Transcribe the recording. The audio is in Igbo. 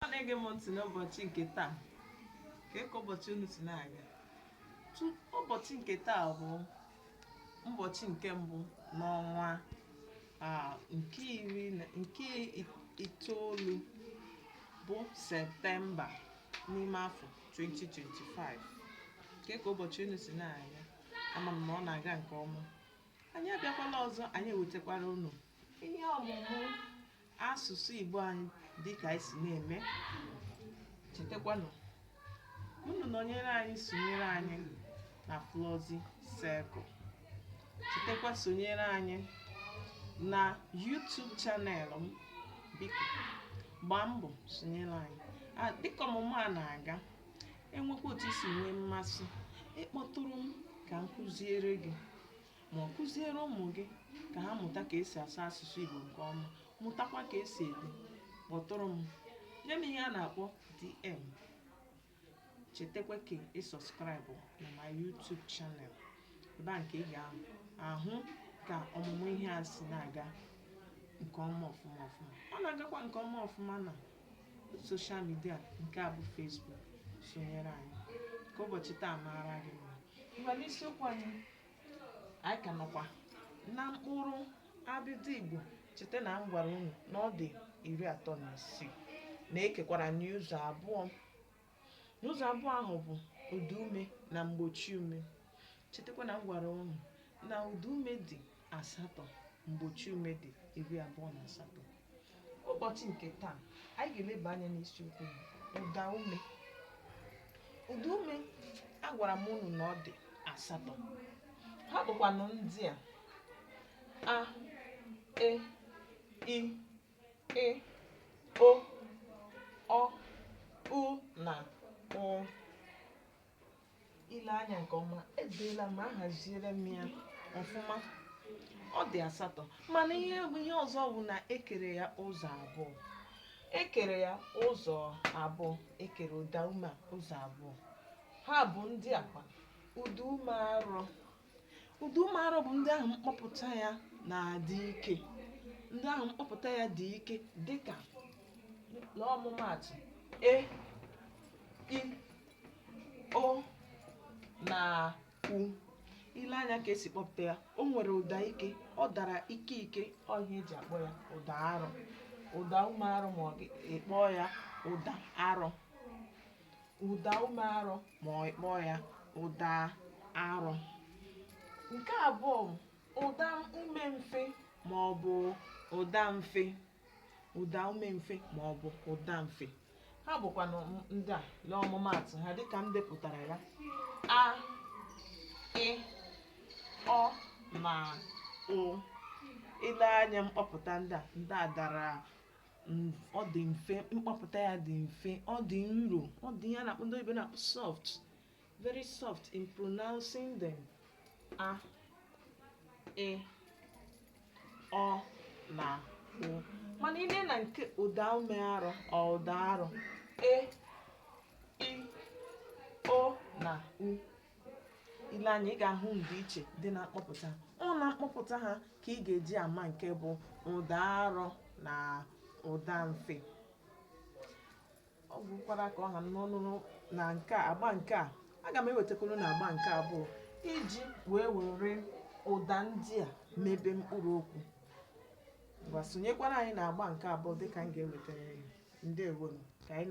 ọ na-ege m ntị n'ụbọchị nke taa kee ka ụbọchị unu si na-aga ụbọchị nke taa bụ ụbọchị nke mbụ n'ọnwa nke itoolu bụ septemba n'ime afọ 2025 kee ka ụbọchị unu si na-aga ama m na ọ na-aga nke ọma anyị abịakwala ọzọ anyị ewetakwara unu ihe ọmụmụ asụsụ Igbo anyị dịka anyị si na-eme chetakwanụ unu nọnyere anyị sonyere anyị na Flọzi Circle chetakwa sonyere anyị na YouTube channel m biko gbaa mbọ sonyere anyị Ah, dịka ọmụmụ a na-aga enwekwa otu i si nwee mmasị ịkpọtụrụ m ka m kụziere gị ma ọ kụziere ụmụ gị ka ha mụta ka esi asụ asụsụ Igbo nke ọma mụtakwa ka esi ede kpọtụrụ m nye m ihe a na-akpọ DM chetakwa ka ị subscribe na my YouTube channel ebe ahụ ka ị ga-ahụ ka ọmụmụ ihe a si na-aga nke ọma ọfụma ọfụma ọ na-agakwa nke ọma ọfụma na social media nke a bụ Facebook sonyere anyị ka ụbọchị taa maara gị mma ngwa n'isiokwu anyị anyị ka nọkwa na mkpụrụ abịdị Igbo cheta na m gwara unu na ọ dị iri atọ na isii na ekekwara n'ụzọ abụọ n'ụzọ abụọ ahụ bụ ụda ume na mgbochi ume chetakwa na m gwara unu na ụda ume dị asatọ mgbochi ume dị iri abụọ na asatọ ụbọchị nke taa anyị ga-eleba anya n'isiokwu bụ ụda ume ụda ume agwara m unu na ọ dị asatọ ha bụkwanụ ndị a a e i ị o ọ u na ụ i lee anya nke ọma edeela m ahaziere m ya ọfụma ọ dị asatọ mana ihe ọzọ bụ na ekere ya ụzọ abụọ ekere ya ụzọ abụọ ekere ụda ume a ụzọ abụọ ha bụ ndị a kwa ụda ume arọ ụda ume arọ bụ ndị ahụ mkpọpụta ya na-adị ike ndị ahụ mkpọpụta ya dị ike dịka n'ọmụmaatụ e i o na u i lee anya ka esi kpọpụta ya o nwere ụda ike ọ dara ike ike ọ ihe eji akpọ ya ụda arọ ụda ume arọ ma ọ ị kpọọ ya ụda arọ ụda ume arọ ma ọ kpọọ ya ụda arọ nke abụọ bụ ụda ume mfe ma ọ bụ ụda mfe ụda ume mfe ma ọ bụ ụda mfe ha bụkwanụ ndị a lee ọmụmaatụ ha dịka m depụtara ya a ị ọ na ụ i lee anya mkpọpụta ndị a ndị a dara m ọ dị mfe mkpọpụta ya dị mfe ọ dị nro ọ dị ihe a na-akpọ ndị oyibo na-akpọ soft very soft in pronouncing them a ị ọ na ụ mana i lee na nke ụda ume arọ ọ ụda arọ e i o na u i lee anya ị ga-ahụ ndịiche dị na mkpọpụta ọ na mkpọpụta ha ka ị ga-eji ama nke bụ ụda arọ na ụda mfe ọ gwụkwara ka ọ ha m n'ọnụ na nke a agba nke a aga m ewetakwuru na agba nke abụọ iji wee were ụda ndị a mebe mkpụrụ okwu ngwa sonyekwara anyị na agba nke abụọ dịka m ga-ewetara ya ndewonụ ka anyị na-